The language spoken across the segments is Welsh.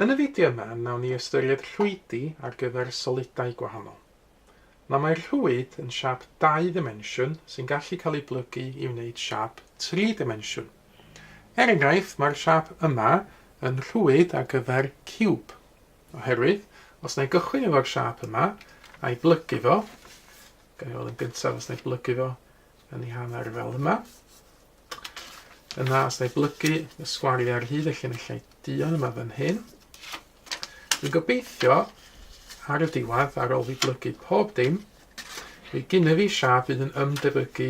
Yn y fideo yma, nawn ni ystyried rhwydi ar gyfer solidau gwahanol. Na mae rhwyd yn siap dau ddimensiwn sy'n gallu cael ei blygu i wneud siap tri dimensiwn. Er enghraifft, mae'r siap yma yn rhwyd ar gyfer ciwb, oherwydd os na i gychwyn efo'r siap yma a'i blygu fo, Gawn ni weld yn gyntaf os na i blygu fo yn ei hanner fel yma. Yna, os na i blygu y sgwariau ar hyd y llinellau duon yma fan hyn, dwi'n gobeithio ar y diwedd, ar ôl fi blygu pob dim, fi gynnyfu siap fydd yn ymdebygu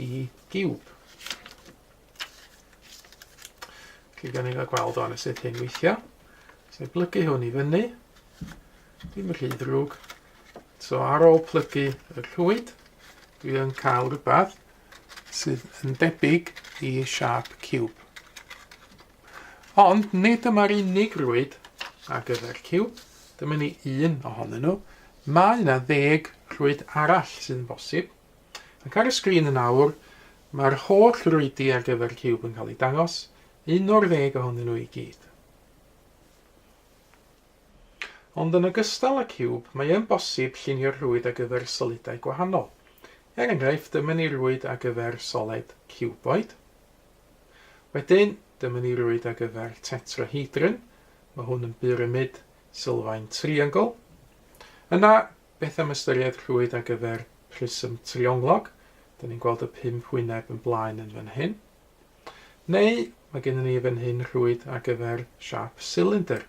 i giwb. Felly, gan ni gael gweld o'n sut hyn weithio. Swn i'n plygu hwn i fyny. Dim yn rhy ddrwg. So ar ôl plygu y rhwyd, dwi yn cael rhywbeth sydd yn debyg i siap cube. Ond nid dyma'r unig rwyd ar gyfer cube, dyma ni un ohonyn nhw. Mae yna ddeg rhwyd arall sydd yn bosib. Ac ar y sgrin yn awr, mae'r holl rwydi ar gyfer Ciwb yn cael eu dangos, un o'r ddeg ohonyn nhw i gyd. Ond yn ogystal â Ciwb, mae yn bosib llunio'r rwyd ar gyfer solidau gwahanol. Er enghraifft, dyma ni rwyd ar gyfer soled ciwboid. Wedyn, dyma ni rwyd ar gyfer tetrahedron, mae hwn yn byramid sylfaen triongl. Yna, Beth am ystyried rhwyd ar gyfer prism trionglog? Dyn ni'n gweld y pump wyneb yn blaen yn fan hyn. Neu, mae gennym ni fan hyn rhwyd ar gyfer siap silindr.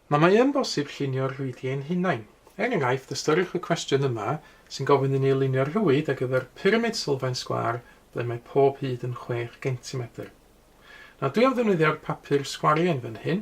Mae mae yn bosib llunio'r rhwydiau ein hunain. Er enghraifft, ystyriwch y cwestiwn yma sy'n gofyn i ni lunio rhwyd ar gyfer pyramid sylfaen sgwar ble mae pob hyd yn chwech gentimetr. Nawr, dwi am ddefnyddio'r papur sgwariau yn fan hyn,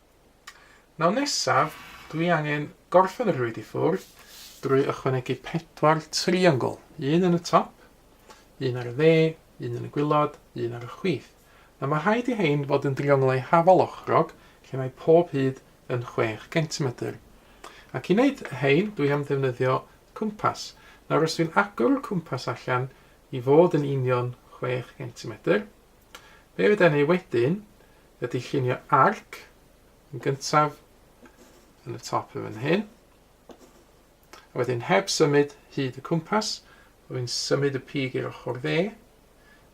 Nawr nesaf, dwi angen gorffen y rhwyd i ffwrdd drwy ychwanegu pedwar triongl, un yn y top, un ar y dde, un yn y gwylod, un ar y chwith. Nawr mae rhaid i hein fod yn drionglau hafal ochrog lle mae pob hyd yn chwech gentimetr. Ac i wneud hein dwi am ddefnyddio cwmpas. Nawr os dwi'n agor y cwmpas allan i fod yn union chwech gentimetr, Be fydda ni wedyn ydy llunio arc yn gyntaf yn y top yn fan hyn. A wedyn heb symud hyd y cwmpas, rwy'n symud y pig i'r ochr dde,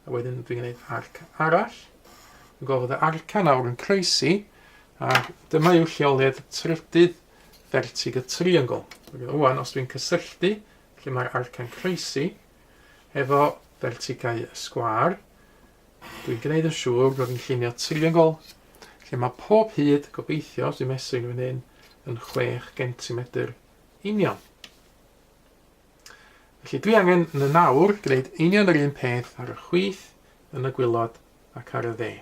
a wedyn dwi'n gwneud arc arall. Dwi'n gofod y arca nawr yn croesi, a dyma yw lleoliad y trydydd fertig y triongl. Rwy'n os dwi'n cysylltu lle mae'r arca'n croesi, efo fertigau sgwâr. Dwi'n gwneud yn siŵr bod fi'n llunio triongl lle mae pob hyd, gobeithio, os dwi'n mesur yn fan hyn, yn 6 gentimetr union. Felly dwi angen yn y nawr gwneud union yr un peth ar y chwith, yn y gwylod ac ar y dde.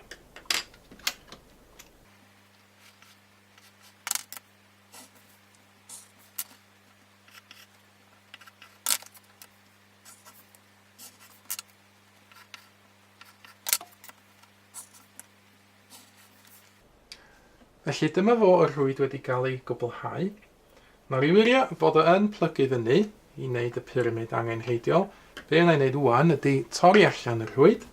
Felly dyma fo y rhwyd wedi cael ei gwblhau. Mae'r Illyria fod o yn plygu fyny i wneud y pyramid angenrheidiol. Be yna i wneud wwan ydy torri allan y rhwyd.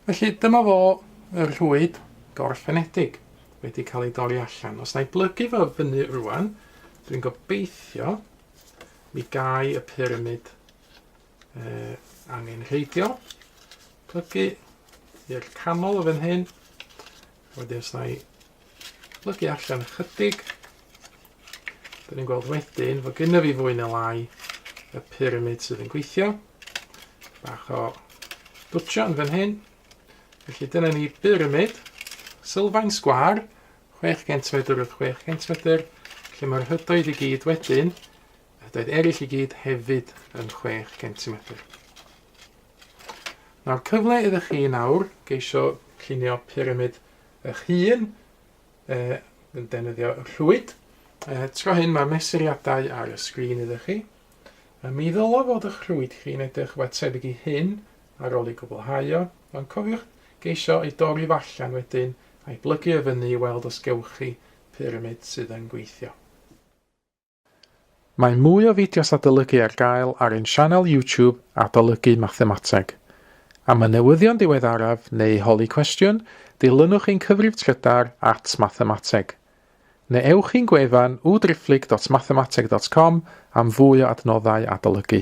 Felly dyma fo y rhwyd gorffenedig wedi cael ei dorri allan. Os na i blygu fo fyny rwan, dwi'n gobeithio mi gai y pyramid uh, angenrheidiol. Plygu i'r canol o fan hyn. Wedyn sna i plygu allan ychydig. Dyn ni'n gweld wedyn fod gyda fi fwy neu lai y pyramid sydd yn gweithio. Bach o dwtio yn fan hyn. Felly dyna ni pyramid sylfaen sgwar 6 cm wrth 6 cm lle mae'r hydoedd i gyd wedyn Doedd eraill i gyd hefyd yn chwech centimetr. Nawr cyfle iddo chi nawr geisio llunio pyramid eich hun, e, yn defnyddio rhwyd. E, tro hyn mae'r mesuriadau ar y sgrin iddo chi. A mi ddylo fod eich rhwyd chi'n edrych rhywbeth tebyg i hyn ar ôl ei gwblhau o, ond cofiwch geisio ei dorri fo allan wedyn a'i blygu o fyny i weld os gewch chi pyramid sydd yn gweithio. Mae mwy o fideos adolygu ar gael ar ein sianel YouTube Adolygu Mathemateg. Am y newyddion diweddaraf neu holi cwestiwn, dilynwch ein cyfrif trydar at Mathemateg. Neu ewch i'n gwefan www.driphlyg.mathemateg.com am fwy o adnoddau adolygu.